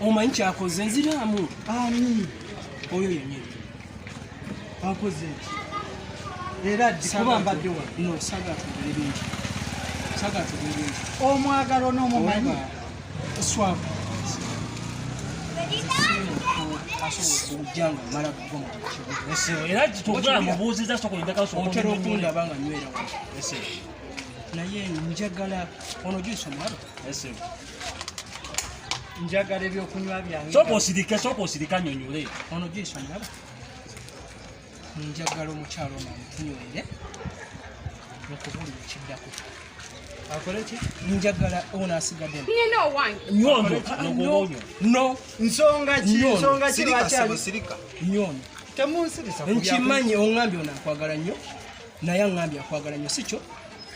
omanyi kyakoze nziraamu ani oyo yenyini akoze eki era dikuba mbadde wa no saga tugere bingi saga tugere bingi omwagalo n'omumanyi swabu otera okundaba nga nywera naye njagala ono gyesomwalo njagala ebyokunywa byange soka osirike soka osirika nyonyole ono jiso ndaba njagala omukyalo ono amutunywere okubulira ekiddako akole ki njagala ono asigadde nyina owange nyondo nogobonyo no nsonga ki nsonga ki lwakyali sirika nyondo temunsirisa nkimanyi ongambye ono akwagala nnyo naye angambye akwagala nnyo sikyo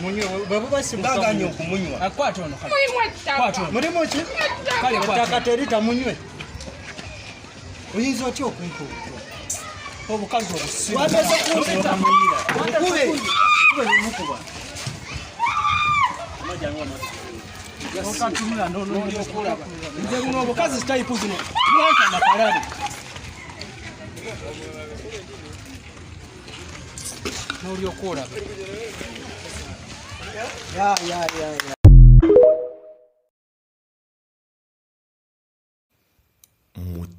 munywe bwebuba simugaganye okumunywa akwata ono mulimu ki ettaka terita munywe oyinza otya okumpa obukazi obusimukubemukuba obukazi sitayipu zino mwanka makalabe n'olyoka olaba ya ya ya ya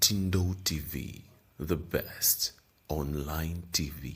Mutindo TV, the best online TV.